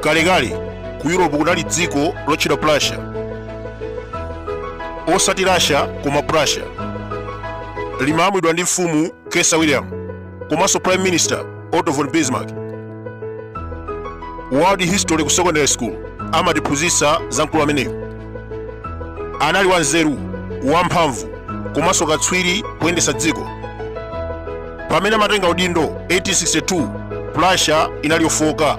kalekale ku europe kunali dziko lotchedwa prussia osati russia koma prussia limalamulidwa ndi mfumu kaiser william komanso prime minister otto von bismarck world history ku secondary school amatiphunzitsa za mkulu ameneyo anali wanzeru wamphamvu komanso katswiri kuyendetsa dziko pamene amatenga udindo 1862 prussia inali yofooka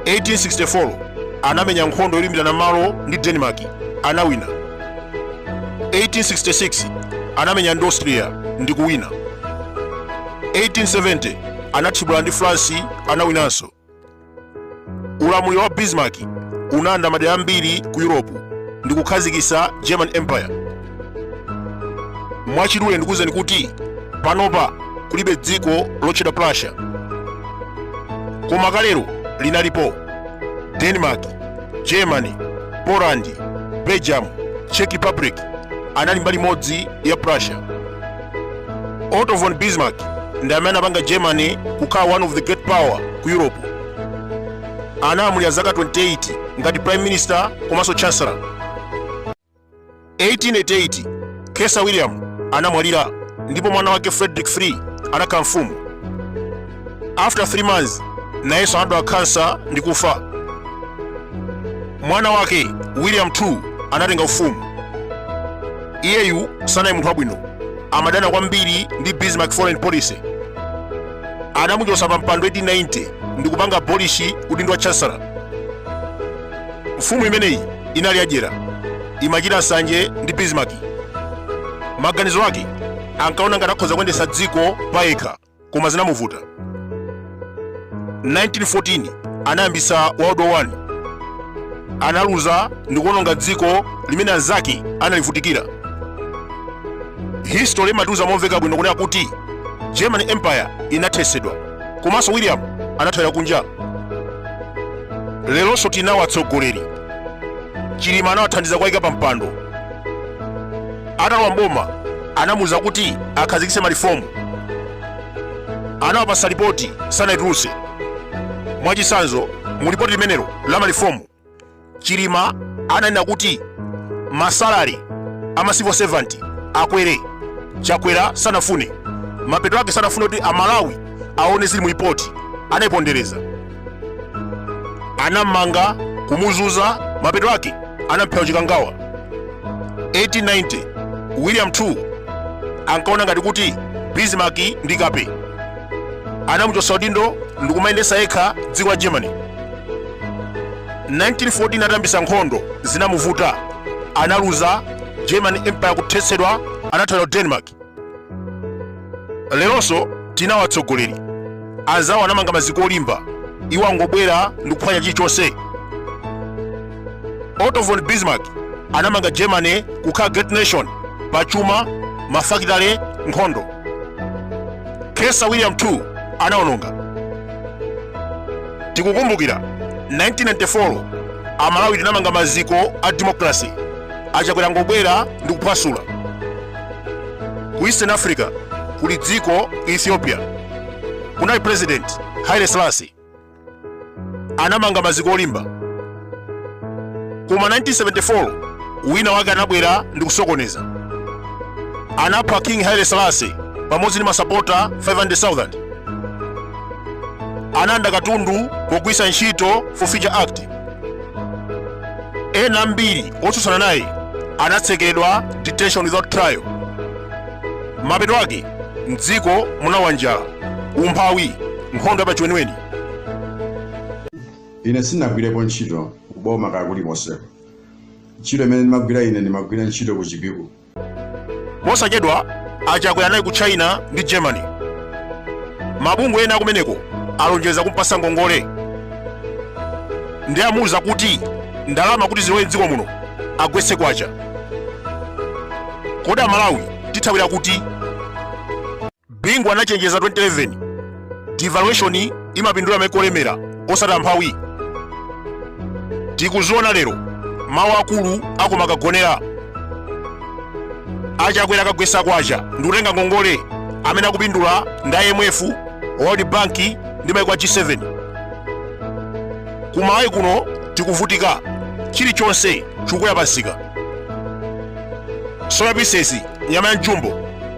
1864 anamenya nkhondo yolimbirana malo ndi denmark anawina 1866 anamenya ndi austria ndi kuwina 1870 anathibula ndi france anawinanso ulamuliro wa bismarck unalanda madera ambiri ku europe ndi kukhazikitsa german empire mwachidule ndikuwuzeni kuti panopa kulibe dziko lotchedwa prussia koma kalero linalipo denmark germany poland belgium czech republic anali mbali imodzi ya prussia otto von bismarck ndi amene anapanga germany kukhala one of the great power ku europe analamulira zaka 28 ngati prime minister komanso chancellor 1888 kaiser william anamwalira ndipo mwana wake frederick three anakhala mfumu after 3 months nayenso anadwala khansa ndi kufa mwana wake william 2 anatenga ufumu iyeyu sanali munthu wabwino amadana kwambiri ndi bismarck foreign policy anamuchotsa pa mpando 1890 ndi kupanga abolish udindo wa chancellor mfumu imeneyi inali yadyera imachita nsanje ndi bismarck maganizo ake ankaona ngati akhoza kuyendetsa dziko payekha koma zinamuvuta. 1914 anayambitsa World War 1 analuza ndi kuononga dziko limene anzake analivutikira. History imatiuza momveka bwino kunena kuti German Empire inathesedwa komanso William anathawira kunja. Lelonso tinawo atsogoleri Chilima anawathandiza kuwaika pa mpando. atalowa mboma anamuuza kuti akhazikitse malifomu anawapasa lipoti sanaitulutse mwachisanzo mu lipoti limenelo la malifomu chilima ananena kuti masalari ama civil servant akwere chakwera sanafune mapeto ake sanafune kuti amalawi aone zili mu lipoti anaipondereza anammanga kumuzunza mapeto ake anamphera chikangawa 1890 william 2 ankaona ngati kuti bismarck ndi kape anamuchotsa udindo ndi kumayendetsa yekha dziko la germany 1914 atayambitsa nkhondo zinamuvuta analuza german empire kuthetsedwa anathawira denmark leronso tinawo atsogoleri anzawo anamanga maziko olimba iwo angobwera ndi kuphwanya chilichonse otto von bismarck anamanga germany kukhala great nation pa chuma mafakitale nkhondo kaiser william 2 anaononga tikukumbukira 1994 amalawi tinamanga maziko a demokrasi achakwera angobwera ndi kuphwasula ku eastern africa kuli dziko ethiopia kunali president haile selassie anamanga maziko olimba koma 1974 wina wake anabwera ndi kusokoneza anapha king haile selassie pamodzi ndi masapota 500000 analanda katundu pogwiritsa ntchito forfeiture act ena ambiri otsutsana naye anatsekeredwa detention without trial mapeto ake mdziko munagwa njala umphawi nkhondo yapachiweniweni ine sinagwirepo ntchito kuboma kaya kulikonse ntchito imene ndimagwira ine ndimagwira ntchito ku chipiku posachedwa achakwera anali ku china ndi germany mabungwe ena akumeneko alonjeza kumpatsa ngongole ndi amuuza kuti ndalama kuti zilowe mdziko muno agwetse kwacha kodi amalawi tithawira kuti Bingu anachenjeza 2011 devaluation imapindula maiko olemera osati amphawi. Tikuziona lero mawu akulu akoma kagonera achakwera akagwetsa kwacha ndi kutenga ngongole amene akupindula ndi IMF, World Bank ndi maiko a G7. Ku Malawi kuno tikuvutika chilichonse chikukwera pamsika soya pieces nyama ya mjumbo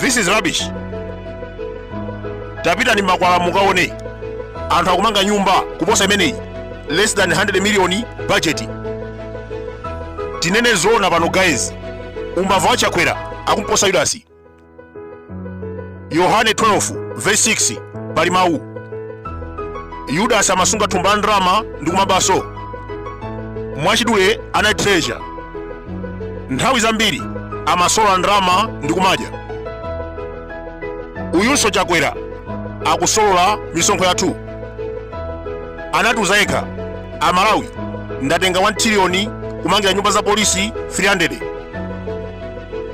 this is rubbish tapitani mmakwalala mukaone anthu akumanga nyumba kuposa imeneyi less than 100 million budget tinene zoona pano guys umbava wachakwera akumposa yudasi yohane 12 verse 6 pali mawu yudasi amasunga thumba la ndalama ndi kumabanso mwachidule anali treasurer nthawi zambiri amasolola ndalama ndi kumadya uyunso chakwera akusolola misonkho yathu anatiuza yekha amalawi ndatenga 1 triliyoni kumangira nyumba za polisi 300